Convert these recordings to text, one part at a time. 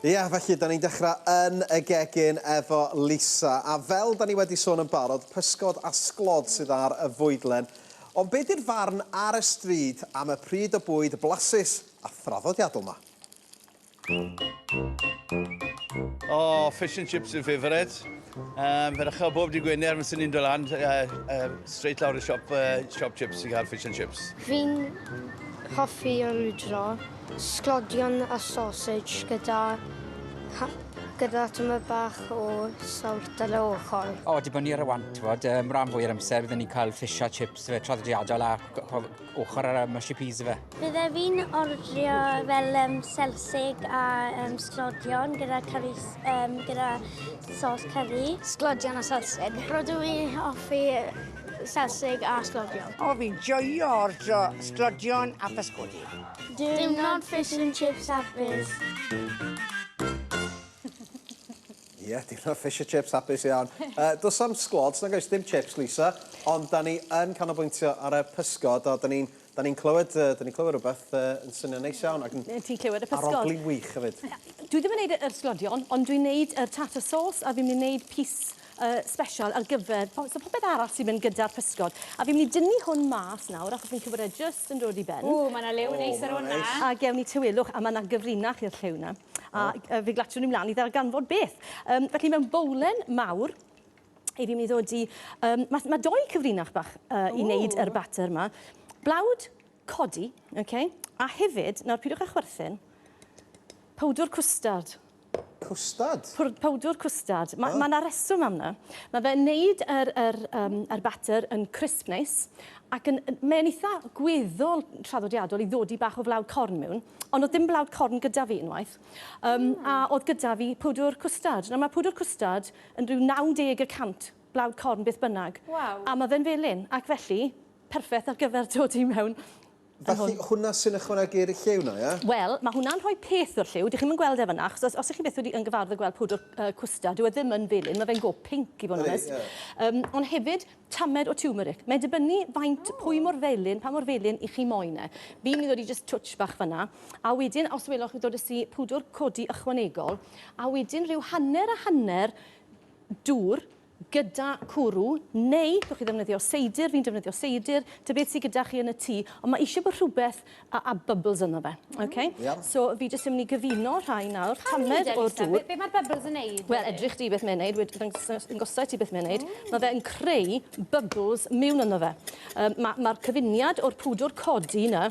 Ie, yeah, felly, da ni'n dechrau yn y gegin efo Lisa. A fel da ni wedi sôn yn barod, pysgod a sglod sydd ar y fwydlen. Ond be di'r farn ar y stryd am y pryd o bwyd blasus a thraddodiadol yma? Oh, fish and chips yw'n favourite. Um, fe ddechrau bob di Gwener, mae'n sy'n ni'n dod lan, uh, uh, straight lawr y siop, uh, siop chips i gael fish and chips. Fi'n hoffi o rwydro, sglodion a sausage gyda, ha, gyda tyma bach o sawlt ar y ochr. O, dibynnu ar y want, fod, um, rhan fwy o'r amser byddwn ni'n cael fish a chips fe traddodiadol a ochr ar y mushy peas ife. Bydde fi'n ordrio fel um, selsig a um, sglodion gyda, curry, um, gyda sos curry. Sglodion a selsig. Rydw i offi selsig a sglodion. O, fi'n joio ordrio sglodion a pysgodi. Dim not fish and chips a biz. Ie, diwrnod fish and chips hapus iawn. uh, does am sglods, nag oes dim chips, Lisa, ond da ni yn canolbwyntio ar y pysgod, a da ni'n da ni clywed, uh, da ni clywed rhywbeth uh, yn swnio'n neis iawn. Ac yn Ti'n clywed y pysgod? Arogli'n wych hefyd. Dwi ddim yn gwneud yr sglodion, ond dwi'n gwneud y tartar sauce, a fi'n mynd i wneud pys uh, special ar gyfer, po, so popeth arall sy'n mynd gyda'r pysgod. A fi'n mynd i dynnu hwn mas nawr, achos fi'n cywed e just yn dod i ben. O, mae yna lew oh, neis ar hwnna. A gewn ni tywelwch, a mae yna gyfrinach i'r llew na. A oh. fe glatiwn ni mlaen i ddarganfod beth. Um, felly mewn bowlen mawr, i fi'n mynd i ddod i... Um, mae ma doi cyfrinach bach uh, i wneud yr batter yma. Blawd codi, okay? a hefyd, nawr pidwch â chwerthin, powdwr cwstard. Cwstard? Powdwr cwstard. Mae yna reswm am yna. Mae fe'n neud yr, yr, um, yr batter yn crisp neis, ac yn, mae'n eitha gweddol traddodiadol i ddodi bach o flawd corn mewn, Ond oedd dim blawd corn gyda fi unwaith. Um, mm. A oedd gyda fi pwdwr cwstard. Nawr mae pwdwr cwstard yn rhyw 90 y cant blawd corn beth bynnag. Wow. A mae fe'n felyn, ac felly, perffaith ar gyfer dod i mewn Felly hwnna sy'n ychwanegu'r lliw na, ie? Wel, mae hwnna'n rhoi peth o'r lliw. Dych chi'n gweld e fyna, achos os, os ych chi beth wedi yn gyfarfod gweld pwdwr uh, cwstard, dyw e ddim yn felyn, mae fe'n go pink i fod yn onest. Um, ond hefyd, tamed o tiwmeric. Mae'n dibynnu faint, pwy mor felyn, pa mor felyn i chi moyn e. Fi'n mynd i ddod i jyst twtsh bach fan'na, a wedyn os welwch chi dodais i pwdwr codi ychwanegol, a wedyn rhyw hanner a hanner dŵr gyda cwrw, neu gewch chi ddefnyddio seidr, fi'n defnyddio seidr, ta beth sy gyda chi yn y tŷ, ond mae eisiau bod rhywbeth a a bubbles yno fe. Ok? Iawn. So fi jyst yn myn' i gyfuno rhai nawr. Pam ni Tamed o'r dŵr. Be' be' ma'r bubbles yn neud? Wel edrych di beth mae'n neud wed- ddangos- dangosai ti beth mae'n neud. O. Ma' fe yn creu bubbles miwn yno fe. Yym ma' ma'r cyfuniad o'r pwdwr codi 'na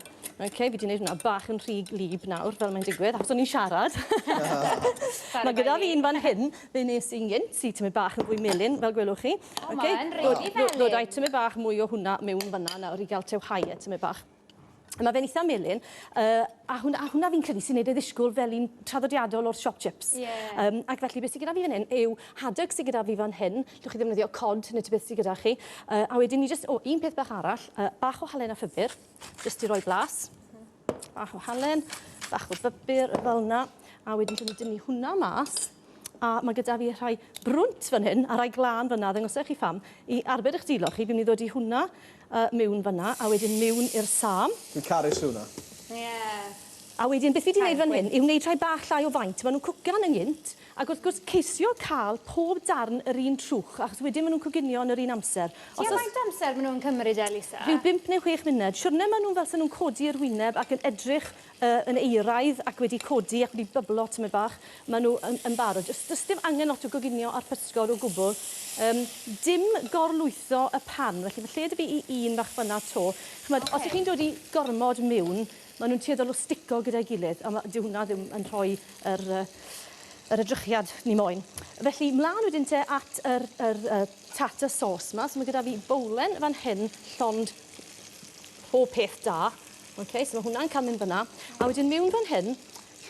ok fi 'di neud wnna bach yn rhy wlyb nawr fel mae'n digwydd achos o'n i'n siarad. Sori. Ma' gyda fi un fan hyn fe nes i'n gynt sy tymed bach yn fwy melyn fel gwelwch chi. O ma' yn rili felyn. Ddod â'i tymed bach mwy o hwnna miwn fan 'na nawr i ga'l te o hae e tymed bach. Mae fe'n eitha melyn, uh, a, hwn, a hwnna fi'n credu sy'n neud ei ddisgwyl fel un traddodiadol o'r shop chips. Yeah. Um, ac felly beth sy'n gyda fi fan hyn yw haddock sy'n gyda fi fan hyn, llwch chi ddefnyddio cod neu ti beth sy'n gyda chi. Uh, a wedyn ni just, o, un peth bach arall, uh, bach o halen a ffibr, just i roi blas. Bach o halen, bach o bybur, fel yna. A wedyn dwi'n dynnu hwnna mas. a mae gyda fi rhai brwnt fan hyn a rhai glân fan yna, ddangosau chi pham, i arbed eich dilo chi, fi'n mynd i ddod i hwnna uh, mewn fan yna, a wedyn mewn i'r sam. Fi'n caru hwnna. Ie. Yeah. A wedyn, beth fi wedi gwneud fan hyn yw wneud rhai bach llai o faint. Maen nhw'n cwcan yn gynt, ac wrth gwrs ceisio cael pob darn yr un trwch, achos wedyn maen nhw'n coginio yn yr un amser. Os Tua faint amser maen nhw'n cymryd e, Lisa? Rhyw bimp neu chwech munud. Siwrne maen nhw'n fel sy'n nhw'n codi yr wyneb ac yn edrych yy yn euraidd ac wedi codi ac wedi byblo tymed bach, maen nhw yn yn barod. Does does dim angen lot o goginio ar pysgod o gwbl. Yym, dim gorlwytho y pan, felly mae lle 'da fi i un fach fan'na 'to. Chimod... Ocê. ...os 'ych chi'n dod i gormod miwn, maen nhw'n tueddol o stico gyda'i gilydd, a ma'... Dyw hwnna ddim yn rhoi yr yy yr edrychiad ni moyn. Felly, mlaen wedyn te at yr yr yy tartar sauce 'ma. So ma' gyda fi bowlen fan hyn llond pob peth da. Ok, so mae hwnna'n cael mynd fyna. A wedyn mewn fan hyn,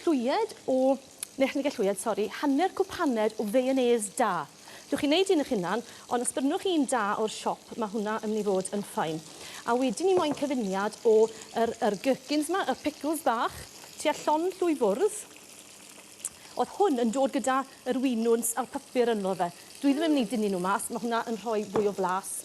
llwyed o, neu chniga llwyed, sori, hanner cwp hanner o feianês da. Dwch chi'n neud un eich hunan, ond os brynwch un da o'r siop, mae hwnna yn mynd i fod yn ffain. A wedyn ni moyn cyfuniad o yr, yr gherkins yma, y pickles bach, tua llon llwy fwrdd. Oedd hwn yn dod gyda yr winwns a'r papur ynddo fe. Dwi ddim yn mynd i dynnu nhw mas, mae hwnna yn rhoi fwy o flas.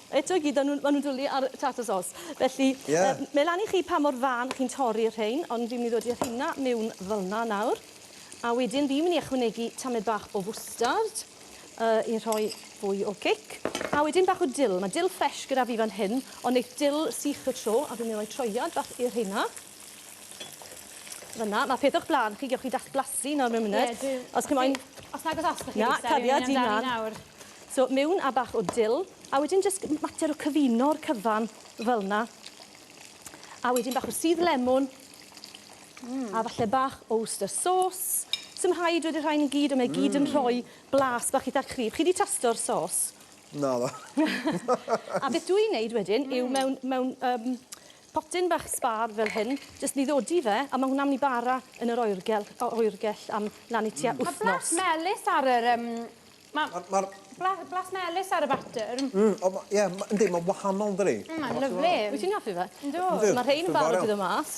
Eto i gyd o'n nhw'n ma' nhw'n dwli ar tartar sauce. Felly... Ie. ...yy mae lan i chi pa mor fân chi'n torri'r rhein ond fi'n myn' i ddod â rheina miwn fel 'na nawr. A wedyn fi myn' i ychwanegu tamed bach o fwstard yy i rhoi fwy o cic. A wedyn bach o dil. Ma' dil ffresh gyda fi fan hyn ond neith dil sych y tro a fi myn' i roi troiad bach i'r rheina. Fel 'na. Ma' peth o'ch bla'n chi gewch chi dath blasu nawr mewn munud. Ie dwi... Os chi moyn... Os nag o's os 'da chi... Na, cariad i mlan. ...fi myn' amdani nawr. So mewn a bach o dill a wedyn jyst mater o cyfuno'r cyfan fel 'na. A wedyn bach o sudd lemwn. Mm. A falle bach o Worcester sauce. Sim rhaid wedi rhain i gyd on' mae gyd yn mm. rhoi blas bach itha cryf. Chi 'di tasto'r sauce? Naddo. a beth dw i'n neud wedyn mm. yw mewn mewn um, potyn bach sbar fel hyn, jyst ni ddodi fe, a mae hwnna'n mynd i bara yn yr oergell, oergell am lan i tua mm. wythnos. Mae blas melys ar yr um, Ma'... Ma'r ma'r... Bla- blas melys ar y batter. Mm o ma' ie ma' yndi ma'n wahanol yndydi? Mm ma'n lyfli. Wyt ti'n hoffi fe? Yndw. Yndw. Ma' rhein yn barod i ddod mas.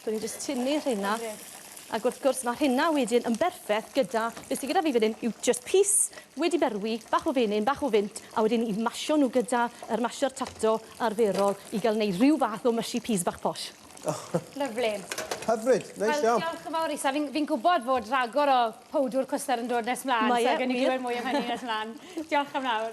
So ni'n jyst tynnu rheina. Lyfli. Ag wrth gwrs ma' rheina wedyn yn berffeth gyda be' sy gyda fi fan 'yn yw jyst pys wedi berwi, bach o fenyn, bach o fynt, a wedyn i masio nw gyda yr masio'r tato arferol i ga'l neud rhyw fath o mushy peas bach posh. Lyfli. Hyfryd. Neis iawn. Wel diolch yn fawr isa fi'n fi'n gwbod fod ragor o powdwr cwstar yn dod nes mlaen. Mae e wir. So gawn ni glywed mwy am hynny nes mlan. Diolch am nawr.